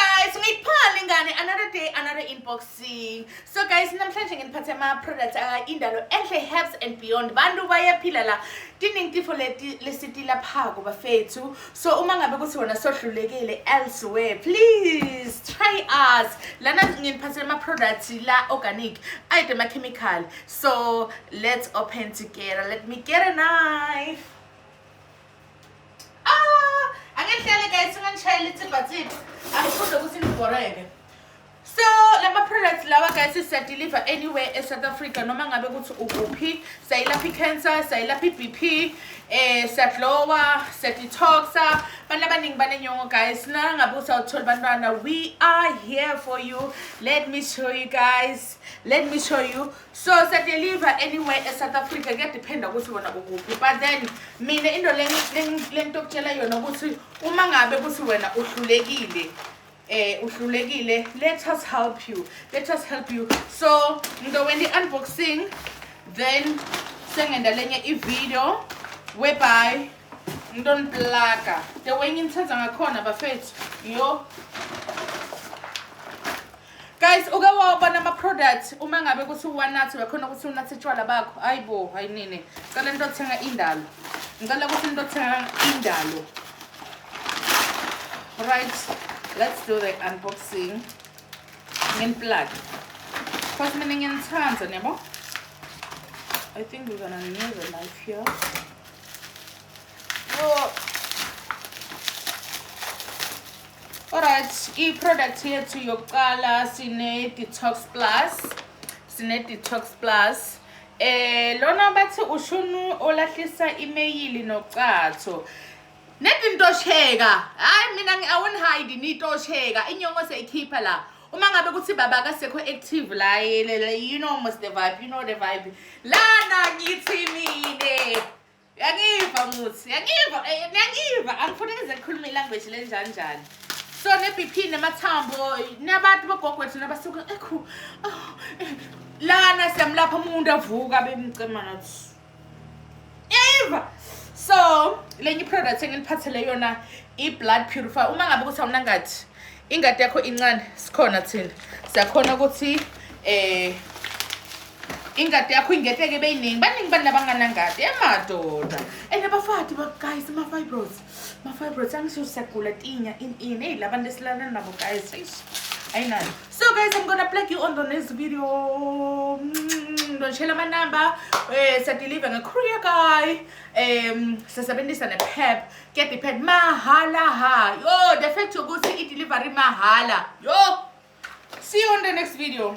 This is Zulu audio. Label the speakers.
Speaker 1: guys ungayiphali ingane another day another unboxing so guys namhlanje nginiphathe ama-product indalo enhle herbs and beyond bantu bayaphila la tiningtifo lesitilaphako bafethu so uma ngabe kuthi wona sohlulekile elsewhere please try us lana nginiphathele ama-product la organic ayide ama-chemical so let's open together let me get a knife Ah, ake ngihlale guys singangishayela ithibhathibha. Angifunde ukuthi ngibhoreke. So lama products lawa guys siya deliver anywhere e South Africa noma ngabe ukuthi ukuphi sayilapha i-cancer sayilapha i-BP eh siyadlowa siyadetoxa abantu abaningi banenyongo guys nana ngabe usawuthola bantwana we are here for you let me show you guys let me show you so siyadeliver anywhere esouth africa kuyadephenda ukuthi wona ukuphi but then mina into lento okutshela yona ukuthi uma ngabe kuthi wena uhlulekile eh uhlulekile let us help you let us help you so ngizokwenza i-unboxing then sengenda lenye ivideo whereby ngidoniplaga the way ngimthenza ngakhona bafethu yo guys uke wawubona ama-product uma ngabe kuthi uwanathi uyakhona ukuthi unathi utshwala bakho hayi bo hayi nini ngicela into othenga indalo ngicela ukuthi into othenga indalo right let's do the unboxing ngenplug because mina ngiyanithanda niyabo i think we're gonna need a knife here Alright, i-product yethu yokuqala sine-detox plus sine-detox plus eh lona bathi ushunu olahlisa imeyili nocatho nedi ntosheka hayi mina awunihide nitosheka inyongo seyikhipha la uma ngabe kuthi baba kasekho active la you know must the vibe you know the vibe lana ngithi mina Yangiva muthi, yangiva, eh, yangiva. Angifuni ngize ngikhulume ilanguage lenjanjani. So ne-BP nemathambo nabantu bogogwethu nabasuke ekhu. Oh, eh, lana siyamlapha umuntu avuka bemcema nathi. Yayiva. So lenye i-product enginiphathele yona i-blood purifier. Uma ngabe ukuthi awunangathi ingadi yakho incane sikhona thina. Siyakhona ukuthi eh ingadi yakho ingeteke beyiningi baningi bantu abanganangadi emadoda and abafati guys ama-fibros ma-fibros angisho siyagula tinya in in eyi la bantu esilala nabo guys eish ayinayo so guys i'm gonna plug you on the next video ndonishela amanamba um eh, siyadeliver nge-courier guy um sisebenzisa ne-pep kuyadepend mahala ha yo the fact yokuthi i-delivery mahala yo see you on the next video